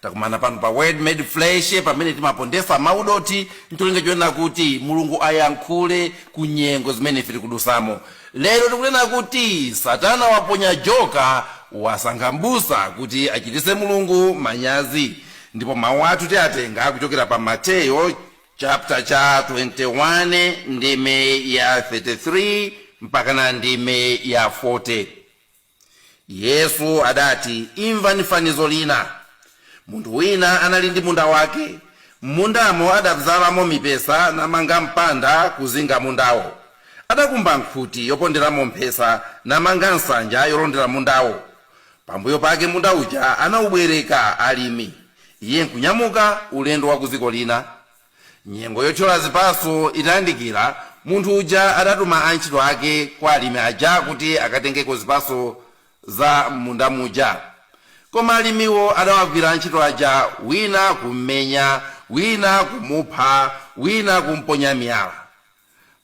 Takumana pano pa Word Made Flesh pamene timapondesa mau dothi ncholinga chonena kuti Mulungu ayankhule ku nyengo zimene ife tikudusamo. Lero tikunena kuti satana waponya joka, wasankha mbusa kuti achitise Mulungu manyazi. Ndipo mau athu tiatenga kuchokera pa Mateyo chapter cha 21 ndime ya 33 mpakana ndime ya 40. Yesu adati, Imvani fanizo lina. Munthu wina anali ndi munda wake. M'mundamo adabzalamo mipesa namanga mpanda kuzinga mundawo. Adakumba nkhuti yoponderamo mphesa namanga nsanja yolondera mundawo. Pambuyo pake munda uja anaubwereka alimi, iye nkunyamuka ulendo wa ku dziko lina. Nyengo yotchola zipatso itayandikira, munthu uja adatuma antchito ake kwa alimi aja kuti akatengeko zipatso za m'munda muja. Koma alimiwo adawagwira antchito aja wina kummenya, wina kumupha, wina kumponya miyala.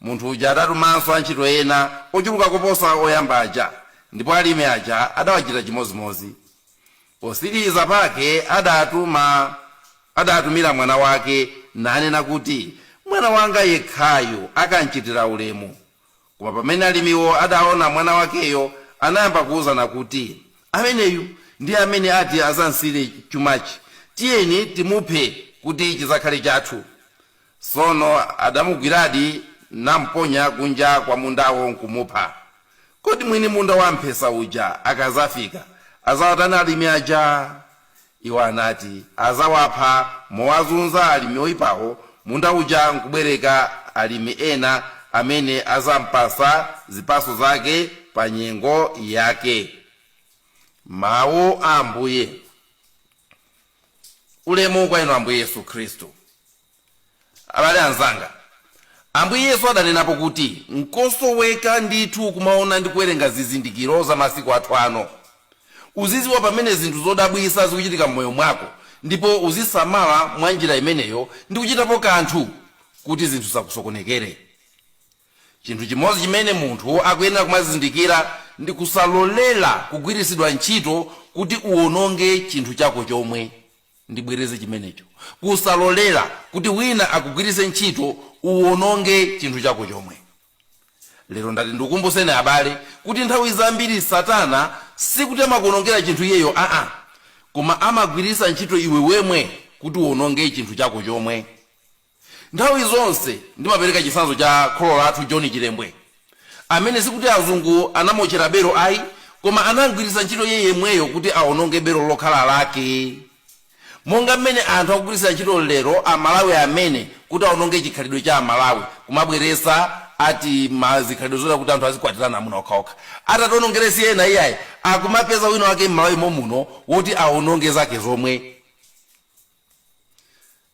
Munthu uja adatumanso antchito ena ochuluka koposa oyamba aja, ndipo alimi aja adawachita chimodzimodzi. Potsiriza pake adawatumira mwana wake, nanena kuti, Mwana wanga yekhayu akamchitira ulemu. Koma pamene alimiwo adaona mwana wakeyo, anayamba kuuzana kuti, Ameneyu ndi amene ati adzamsire chumachi. Tiyeni timuphe kuti chidzakhale chathu. Tsono adamugwiradi namponya kunja kwa mundawo nkumupha. Kodi mwini munda wamphesa uja akadzafika, adzawatani alimi aja? Iwo anati, Adzawapha mowazunza alimi oipawo, munda uja nkubwereka alimi ena amene adzampatsa zipatso zake pa nyengo yake. Mau a Ambuye. Ulemu kwa Inu Ambuye Yesu Khristu. Abale anzanga, Ambuye Yesu adanenapo kuti nkosoweka ndithu kumaona ndi kuwerenga zizindikiro za masiku athu ano. Uzidziwa pamene zinthu zodabwitsa zikuchitika m'moyo mwako ndipo uzisamala mwa njira imeneyo ndi kuchitapo kanthu kuti zinthu zisakusokonekere. Chinthu chimodzi chimene munthu akuyenera kumazindikira ndi kusalolera kugwiritsidwa ntchito kuti uwononge chinthu chako chomwe. Ndibwereze chimenecho. Kusalolera kuti wina akugwiritse ntchito uwononge chinthu chako chomwe. Lero ndati ndikumbutseni abale kuti nthawi zambiri Satana sikuti amakuonongera chinthu iyeyo aa, koma amagwiritsa ntchito iwe wemwe kuti uwononge chinthu chako chomwe. Nthawi zonse ndimapereka chitsanzo cha kholo lathu John Chilembwe amene sikuti azungu anamuotchera belo ayi koma anam'gwiritsa ntchito iye yemweyo kuti awononge belo lokhala lake monga m'mene anthu akugwiritsira ntchito lero a Malawi amene kuti awononge chikhalidwe cha a Malawi kumabweretsa ati ma zikhalidwe zoti kuti anthu azikwatirana amuna okhaokha atatiwonongere si ena iyayi akumapeza wina wake m'Malawi momuno woti awononge zake zomwe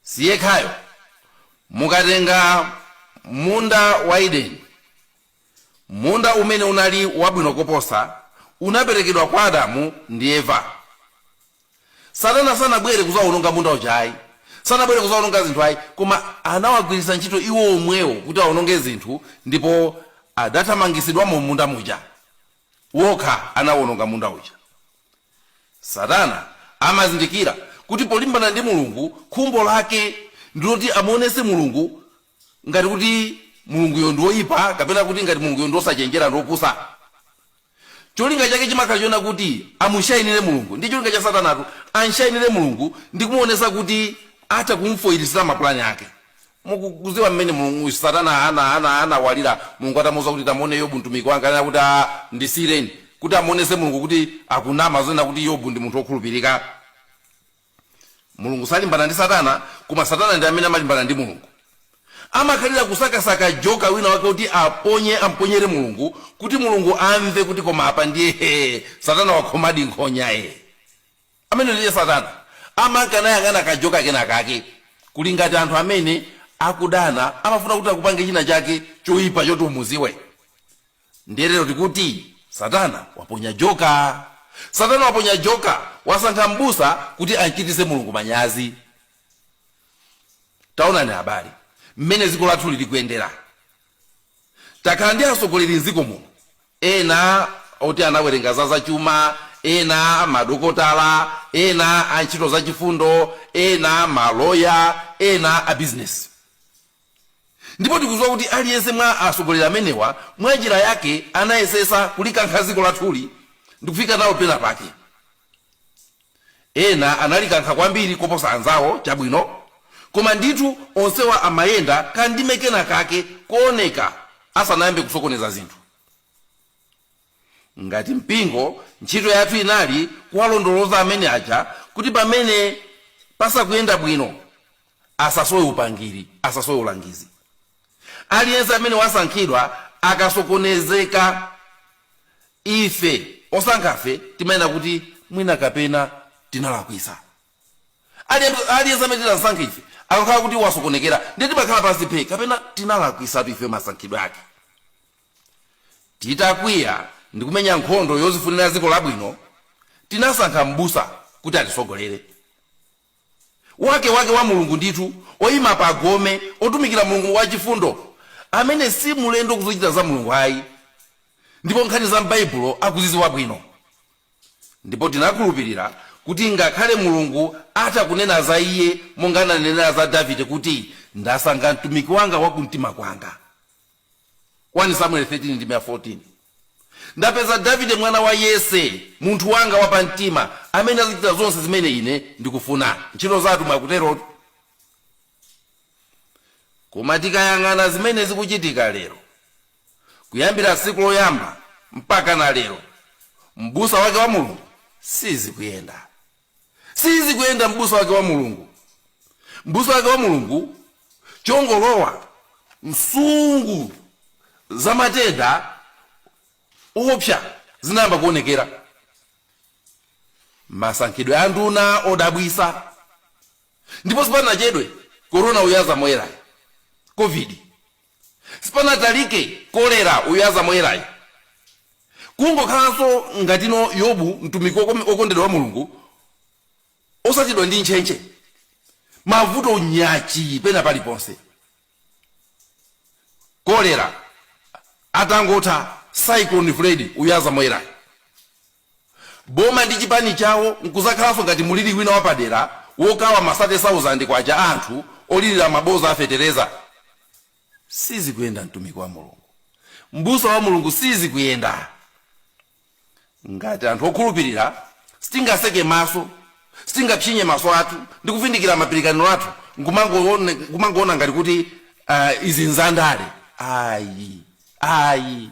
Si yekhayo. Mukatenga munda wa Edeni, munda umene unali wabwino koposa, unaperekedwa kwa Adamu ndi Eva. Satana sanabwere kuzawononga munda uja ayi, sanabwere kuzawononga zinthu ayi, koma anawagwiritsa ntchito iwo omwewo kuti awononge zinthu ndipo adathamangitsidwamo m'munda muja. wokha anawononga munda uja. Satana amazindikira kuti polimbana ndi Mulungu, khumbo lake ndi loti amuonetse Mulungu ngati kuti Mulunguyo ndi woipa kapena kuti ngati Mulunguyo ndi wosachenjera ndi wopusa. Cholinga chake chimakhala chonena kuti amushainire Mulungu. Ndi cholinga cha Satanatu, amshainire Mulungu ndi kumuonetsa kuti atha kum'foilitsira mapulani ake. Mukudziwa mmene Mulungu, Satana ana, ana, anawalira Mulungu atamuuza kuti, Tamuone Yobu mtumiki wanga? Ananena kuti, Aa, ndisiyireni. Kuti amuonetse Mulungu kuti akunama zonena kuti Yobu ndi munthu wokhulupirika. Mulungu salimbana ndi Satana, koma Satana ndi amene amalimbana ndi Mulungu. Amakhalira kusakasaka joka wina wake woti aponye, amponyere Mulungu kuti Mulungu amve kuti koma apa ndiye hee, Satana wakhomadi nkhonya ee. Ameneyo ndiye satana amanka nayang'ana kajoka kena kake. Kuli ngati anthu amene akudana amafuna kuti akupange china chake choipa choti umudziwe. Ndiye lero tikuti satana waponya joka. Satana waponya joka, wasankha m'busa kuti amchitise Mulungu manyazi. Taonani abale mmene dziko lathuli likuyendera. Takhala ndi atsogoleri mdziko muno ena oti anawerenga za zachuma, ena madokotala, ena antchito zachifundo, ena maloya, ena abizinesi. Ndipo tikudziwa kuti aliyense mwa atsogoleri amenewa mwanjira yake anayesetsa kulikankha dziko lathuli ndi kufika nalo penapake. Ena analikankha kwambiri koposa anzawo, chabwino, koma ndithu onsewa amayenda kandime kenakake kooneka asanayambe kusokoneza zinthu. Ngati mpingo, ntchito yathu inali kuwalondoloza amene aja kuti pamene pasakuyenda bwino. asasowe upangiri, asasowe ulangizi. Aliyense amene wasankhidwa akasokonezeka, ife osankhafe timanena kuti mwina kapena tinalakwitsa. Aliyense aliyense amene tinasankha ife akakhala kuti wasokonekera, ndiye timakhala pansi phe, kapena tinalakwisatu ife masankhidwe ake. Titakwiya ndi kumenya nkhondo yozifunira dziko labwino, tinasankha m'busa kuti atisogolere. wake wake wa Mulungu ndithu, oima pa gome, otumikira Mulungu wachifundo, amene si mlendo ku zochita za Mulungu ayi, ndipo nkhani za m'Baibulo akuzidziwa bwino. Ndipo tinakhulupirira kuti ngakhale Mulungu atha kunena za iye monga ananenera za Davide kuti, Ndasankha mtumiki wanga wa kumtima kwanga. 1 Samueli 13 ndime ya 14, Ndapeza Davide mwana wa Yese, munthu wanga wapamtima, amene azichita zonse zimene ine ndikufuna. Ntchito za Atumwi akuterotu. Koma tikayang'ana zimene zikuchitika lero, kuyambira tsiku loyamba mpakana lero, m'busa wake wa Mulungu sizikuyenda. sizikuyenda m'busa wake wa mulungu m'busa wake wa mulungu chongolowa nsungu za matenda oopsa zinayamba kuonekera masankhidwe a nduna odabwisa ndipo sipanachedwe korona uyu aza moyerayo covid Sipanatalike kolera uyu aza moyerayu kungokhalanso ngatino Yobu mtumiki wokondedwa wa Mulungu osachidwa ndi ntchentche mavuto nyachii pena paliponse kolera atangotha cyclone Freddy uyu aza moyerayu. boma ndi chipani chawo nkuzakhalanso ngati mulili wina wapadera wokawa ma sate sauzande kwacha a anthu olirira maboza a fetereza? Sizikuyenda mtumiki wa Mulungu, mbusa wa Mulungu sizikuyenda. Ngati anthu okhulupirira sitingaseke maso, sitingapsinye maso athu ndi kuvindikira mapirikaniro athu nkumangoona ngati kuti izi nzandale, ayi ayi.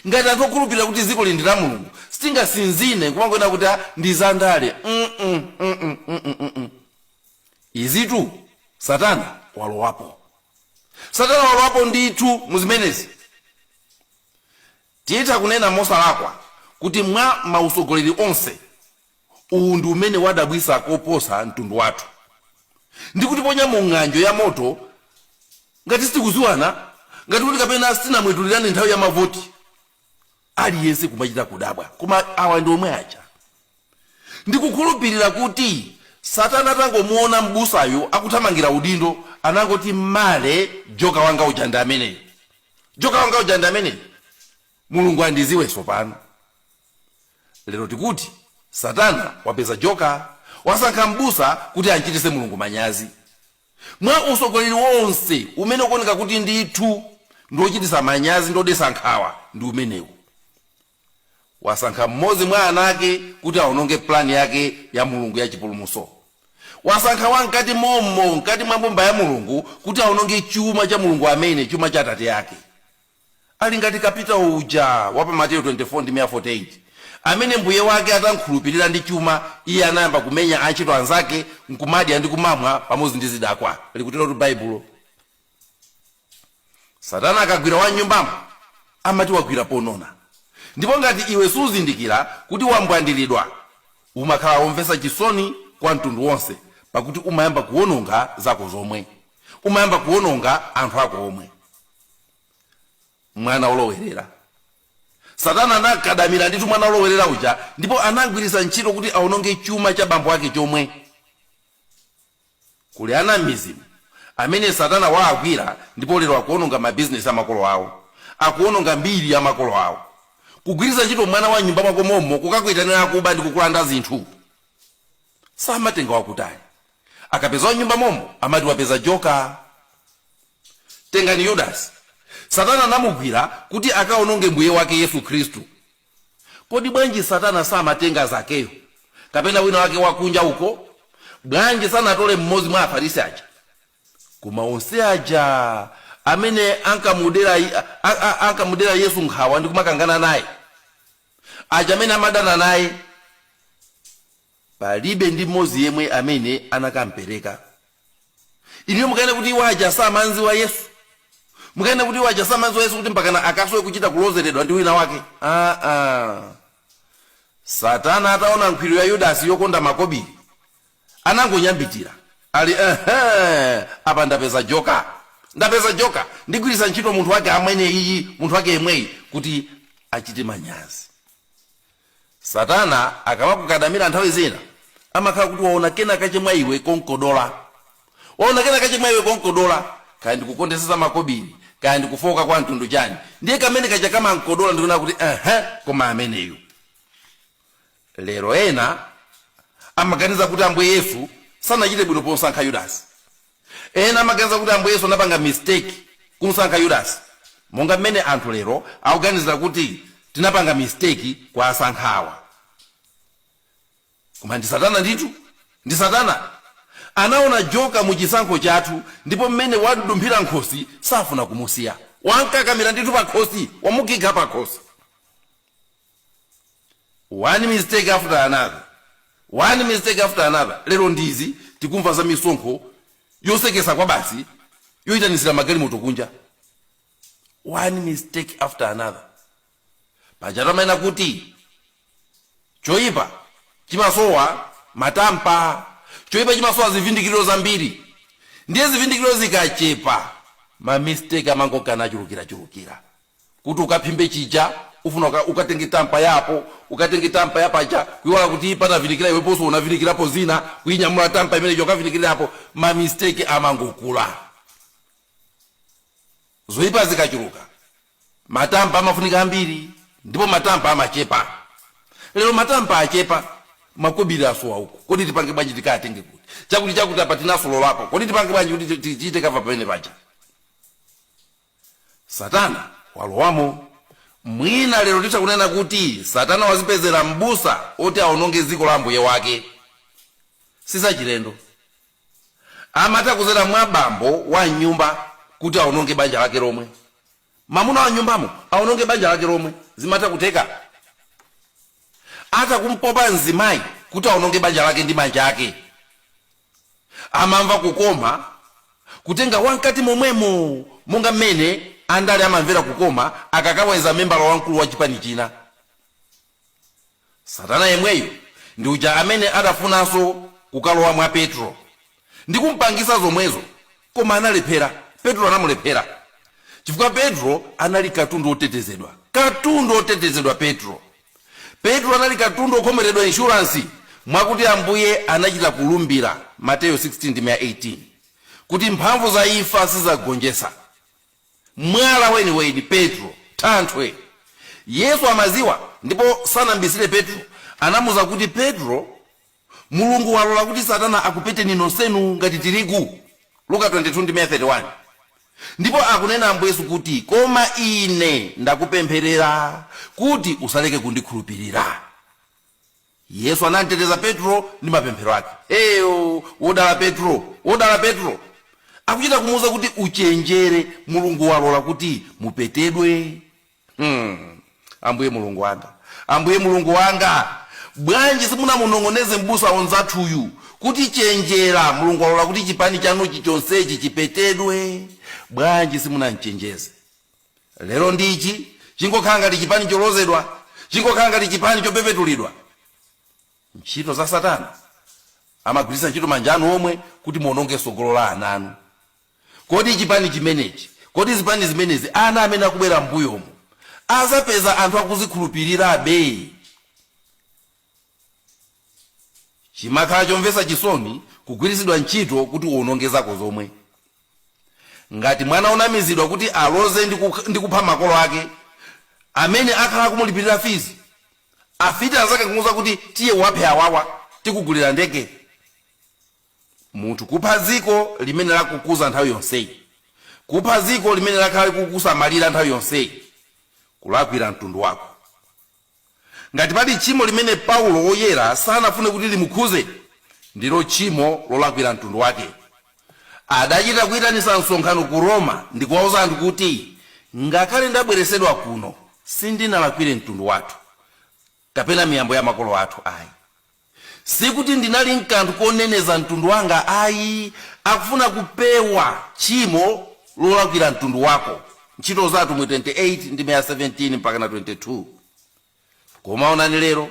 Ngati anthu okhulupirira kuti dzikoli ndi la Mulungu sitingasinzine nkumangonena kuti ah ndi za ndale mm mm mm mm izitu satana walowapo satana walowapo ndithu mu zimenezi. Titha kunena mosalakwa kuti mwa mautsogoleri onse. Uwu ndi umene wadabwitsa koposa mtundu wathu, ndi kutiponya mu ng'anjo ya moto ngati sitikudziwana, ngati kuti kapena sitinamwetulirane nthawi ya mavoti. Aliyense kumachita kudabwa, koma awa ndi omwe aja? Ndikukhulupirira kuti Satana atangomuona m'busayu akuthamangira udindo, anangoti male, joka wanga uja ndi ameneyu, joka wanga uja ndi ameneyu, Mulungu andidziwe tsopano. Lero tikuti satana wapeza joka, wasankha m'busa kuti amchitise Mulungu manyazi. Mwa usogoleri wonse umene ukuoneka kuti ndithu ndi ochitisa manyazi ndi odesa nkhawa ndi umenewu. Wasankha m'modzi mwa ana ake kuti aononge plan yake ya Mulungu ya chipulumutso. Wasankha wa mkati mommo, mkati mwa mbumba ya Mulungu kuti aononge chuma cha Mulungu amene, chuma cha atate ake. Ali ngati kapitawo uja wa pa Mateyu 24 ndime ya 48, amene mbuye wake atam'khulupirira ndi chuma, iye anayamba kumenya antchito anzake n'kumadya ndi kumamwa pamodzi ndi zidakwa, likuterotu Baibulo. Satana akagwira wa m'nyumbamo, amati wagwira ponona. Ndipo ngati iwe suzindikira kuti wambwandiridwa, umakhala womvetsa chisoni kwa mtundu wonse, pakuti umayamba kuwononga zako zomwe. Umayamba kuwononga anthu ako omwe. mwana olowerera satana anakadamira ndithu mwana olowerera uja ndipo anagwiritsa ntchito kuti aononge chuma cha bambo ake chomwe kuli ana m'midzimu amene satana waagwira ndipo lero akuononga mabizinesi a makolo awo akuononga mbiri ya makolo awo kugwiritsa ntchito mwana wa m'nyumba mwako mommo kukakuitanira akuba ndi kukulanda zinthu samatenga wakutali Akapeza wa m'nyumba mommo amati wapeza joka. Tengani Yudasi. Satana anamugwira kuti akaononge Mbuye wake Yesu Khristu. Kodi bwanji Satana samatenga Zakeyo kapena wina wake wakunja uko? Bwanji sanatole m'modzi mwa Afarisi aja? Koma onse aja amene ankamudera a, a, ankamudera Yesu nkhawa ndi kumakangana naye, aja amene amadana naye, Palibe ndi mmodzi yemwe amene anakampereka. Inuyo mukanena kuti iwo aja samanziwa Yesu? Mukanena kuti iwo aja samam'dziwa Yesu kuti mpakana akasowe kuchita kulozeredwa ndi wina wake? Aa! Satana ataona nkhwiru ya Yudasi yokonda makobiri, anangonyambitira. Ali ehe! Apa ndapeza joka! Ndapeza joka! Ndigwiritsa ntchito munthu wake ameneyi, munthu wake yemweyi kuti achite manyazi. Satana akamakukadamira nthawi zina amakhala kuti waona kenakake mwa iwe konkodola. Waona kenakake mwa iwe konkodola, kaya ndi kukondetsa za makobiri, kaya ndi kufooka kwa mtundu chani, ndiye kamene kaja kamamkodola ndikunena kuti uh-huh, koma ameneyo. Lero ena amaganiza kuti Ambuye Yesu sanachite bwino pomsankha Yudasi. Ena amaganiza kuti Ambuye Yesu anapanga mistake kumsankha Yudasi monga mmene anthu lero akuganizira kuti tinapanga mistake kuwasankha awa. Koma ndi satana ndithu. Ndi satana. Anaona joka mu chisankho chathu ndipo mmene wamdumphira mkhosi safuna kumusiya. Wamkakamira ndithu pakhosi, wamukinkha pakhosi. One mistake after another, one mistake after another, lero ndi izi tikumva za misonkho yosekesa kwabasi yoitanitsira magalimoto kunja. One mistake after another. Pajatu amanena kuti choipa chimasowa matampa, choipa chimasowa zivindikiriro zambiri, ndiye zivindikiriro zikachepa ma mistake amangokana chulukirachulukira. kuti ukaphimbe chija ufuna uka, ukatenge tampa yapo ukatenge tampa yapaja kuiwala kuti panavinikira iwe ponso unavinikirapo zina kuinyamula tampa imeneija ukavinikirirapo ma mistake amangokula zoipa zikachuluka matampa amafunika ambiri ndipo matampa amachepa lero matampa achepa makobiri asowa uku kodi tipange bwanji tikatenge kuti chakuti chakuti apa tinasololapo kodi tipange bwanji kuti ti- tichite kava pamene paja Satana walowamo. Mwina lero titha kunena kuti Satana wazipezera m'busa oti awononge dziko la Ambuye wake. Sizachilendo. Amatha kuzera mwa bambo wa m'nyumba kuti awononge banja lake lomwe. Mamuna wa m'nyumbamo awononge banja lake lomwe. Zimatha kutheka. Atha kumpopa mzimayi kuti awononge banja lake ndi manja ake. Amamva kukoma kutenga wamkati momwemo monga mmene andale amamvera kukoma akakaweza membala wamkulu wa chipani china. Satana yemweyo ndi uja amene adafunanso kukalowa mwa Petro ndi kumpangitsa zomwezo koma analephera. Petro anamulephera chifukwa Petro anali katundu wotetezedwa. Katundu wotetezedwa Petro! Petro anali katundu wokhomeredwa inshuransi mwakuti Ambuye anachita kulumbira, Mateyu 16 ndime ya 18, kuti mphamvu za imfa sizagonjetsa. Mwala weniweni, Petro, thanthwe! Yesu amadziwa ndipo sanambisire Petro, anamuuza kuti, Petro. Mulungu walola kuti Satana akupeteni nonsenu ngati tirigu, Luka 22 ndime ya 31. Ndipo akunena Ambuye Yesu kuti, Koma Ine ndakupempherera kuti usaleke kundikhulupirira. Yesu anamteteza Petro ndi mapemphero ake. Eyo, wodala Petro, wodala Petro! Akuchita kumuuza kuti, Uchenjere, Mulungu walola kuti mupetedwe. Hmm. Ambuye Mulungu wanga, Ambuye Mulungu wanga, bwanji simunamunong'oneze mbusa onzathuyu kuti chenjera, Mulungu walola kuti chipani chanuchi chonsechi chipetedwe? Bwanji simunamchenjeze? Lero ndichi chingokhala ngati chipani cholozedwa, chingokhala ngati chipani chopepetulidwa. Ntchito za Satana amagwiritsa ntchito manja anu omwe kuti muononge tsogolo la ana anu. Kodi chipani chimenechi, kodi zipani zimenezi ana amene akubwera m'mbuyomo azapeza anthu akuzikhulupirirabe? Chimakhala chomvetsa chisoni kugwiritsidwa ntchito kuti uwononge zako zomwe. Ngati mwana onamizidwa kuti aloze ndi kupha makolo ake amene akhala akumulipirira fees, afiti anzake kumuuza kuti tiye uwaphe awawa, tikugulira ndege. munthu kupha dziko limene lakukuza nthawi yonseyi, kupha dziko limene lakhala likukusamalira nthawi yonseyi, kulakwira mtundu wako. Ngati pali tchimo limene Paulo Woyera sanafune kuti limukhuze, ndilo tchimo lolakwira mtundu wake. Adachita kuitanitsa msonkhano ku Roma ndikuwauza anthu kuti, Ngakhale ndabweretsedwa kuno, sindinalakwire mtundu wathu, kapena miyambo ya makolo athu ayi. Sikuti ndinali nkanthu koneneza mtundu wanga ayi, akufuna kupewa tchimo lolakwira mtundu wako, Ntchito za Atumwi 28 ndime ya 17 mpaka na 22. Koma onani lero,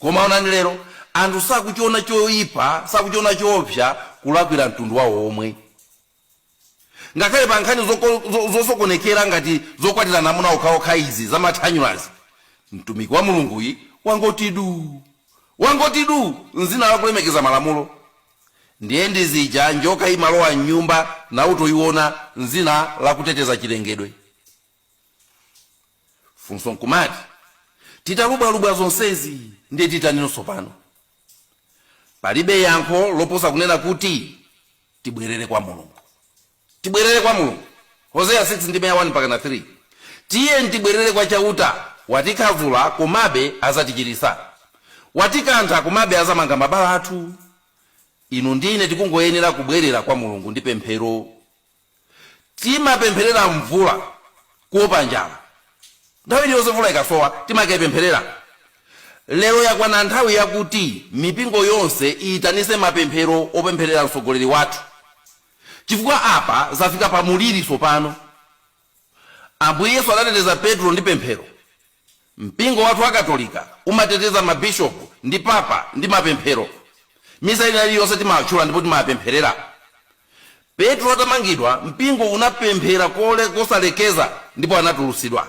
koma onani lero, anthu sakuchiona choipa, sakuchiona choopsa kulakwira mtundu wawo womwe. Ngakhale pa nkhani zosokonekera ngati zokwatirana amuna okhaokha izi za mathanyulazi, mtumiki wa Mulunguyi wangoti duu. Wangoti duu nzina la kulemekeza malamulo. Ndiye ndi zija njoka imalowa mnyumba na utoiona nzina la kuteteza chilengedwe. Funso nkumati, titalubwalubwa zonsezi ndiye titani tsopano? palibe yankho loposa kunena kuti tibwerere kwa mulungu tibwerere kwa mulungu hoseya 6 ndime ya 1 mpaka na 3 tiyeni tibwerere kwa chauta watikhadzula komabe azatichiritsa watikantha komabe azamanga mabala athu inu ndi ine tikungoyenera kubwerera kwa mulungu ndi pemphero Timapempherera mvula kuopa njala. Nthawi iliyonse mvula ikasowa, timakaipempherera. Lero yakwana nthawi yakuti mipingo yonse iyitanitse mapemphero opempherera mtsogoleri wathu chifukwa apa zafika pa muliri tsopano. Ambuye Yesu adateteza Petro ndi pemphero. Mpingo wathu wa Katolika umateteza mabishopu ndi papa ndi mapemphero. Misa ina iliyonse timatchula ndipo timapempherera. Petro atamangidwa, mpingo unapemphera kosalekeza ndipo anatulutsidwa.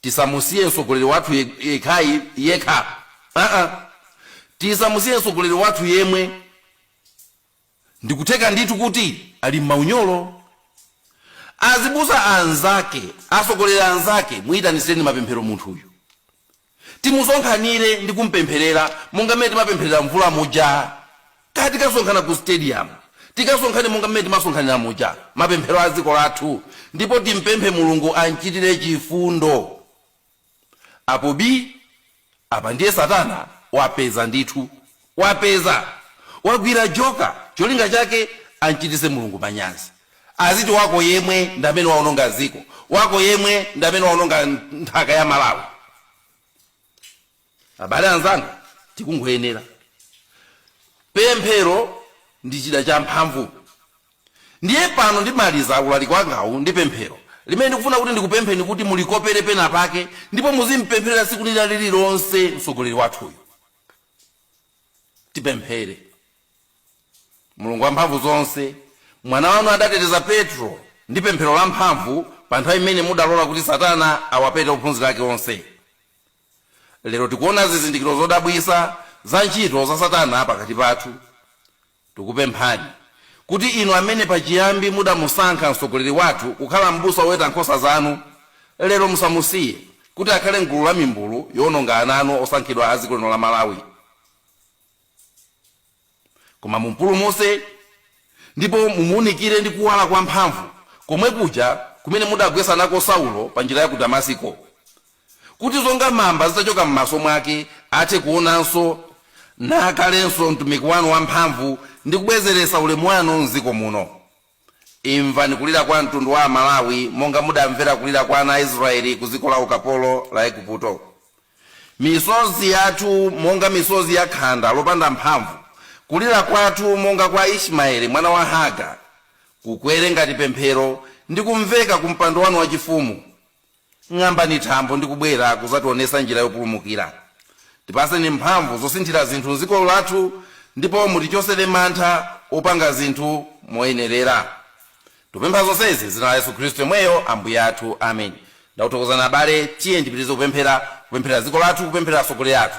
Tisamusiye mtsogoleri wathu yekhayekha. Tisamusiye mtsogoleri wathu yemwe. Ndikutheka ndithu kuti ali m'maunyolo. Azibusa anzake, atsogoleri anzake muitanitsireni mapemphero munthuyu. Timusonkhanire ndi kumpempherera monga mmene timapempherera mvula muja. Kaya tikasonkhana ku stadium, tikasonkhane monga mmene timasonkhanira muja, mapemphero a dziko lathu, ndipo timpemphe Mulungu amchitire chifundo. Apo bii, apa ndiye satana wapeza ndithu. Wapeza! Wagwira joka! Cholinga chake amchitise Mulungu manyazi. Aziti wako yemwe ndamene waononga dziko, wako yemwe ndamene waononga nthaka ya Malawi. Abale anzanga, tikungoyenera. Pemphero ndi chida champhamvu. Ndiye pano ndimaliza ulaliki wangawu ndi pemphero, limene ndikufuna kuti ndikupempheni kuti mulikopere penapake ndipo muzimpempherera tsiku lina lililonse mtsogoleri wathuyu. Tipemphere. Mulungu wamphamvu zonse, Mwana wanu adateteza Petro ndi pemphero lamphamvu pa nthawi imene mudalola kuti Satana awapete ophunzira ake onse. Lero tikuona zizindikiro zodabwitsa za ntchito za Satana pakati pathu. Tikupemphani, kuti Inu amene pachiyambi mudamusankha mtsogoleri wathu kukhala m'busa woweta nkhosa zanu, lero musamusiye, kuti akhale m'gulu la mimbulu yowononga ana anu osankhidwa a dziko lino la Malawi, koma mumpulumutse, ndipo mumuunikire ndi kuwala kwamphamvu, komwe kuja kumene mudagwetsa nako Saulo pa njira ya ku Damasiko. kuti zonga mamba zitachoka m'maso mwake, athe kuonanso, nakhalenso mtumiki wanu wamphamvu ndi kubwezeretsa ulemu wanu m'dziko muno. Imvani kulira kwa mtundu wa Amalawi monga mudamvera kulira kwa ana a Israyeli ku dziko la ukapolo la Eguputo. Misozi yathu monga misozi ya khanda lopanda mphamvu, kulira kwathu monga kwa Ismayeli mwana wa Hagara, kukwere ngati pemphero ndi kumveka ku mpando wanu wachifumu. Ng'ambani thambo ndi kubwera kuzationesa njira yopulumukira. Tipaseni mphamvu zosinthira zinthu nziko lathu ndipo mutichosere mantha opanga zinthu moyenerera. Tupempha zonsezi nzina la Yesu Khristu yemweyo Ambuye athu. Amen. Ndakuthokozani abale, tiyeni tipitirize kupemphera, kupempherera dziko lathu, kupempherera atsogoleri athu.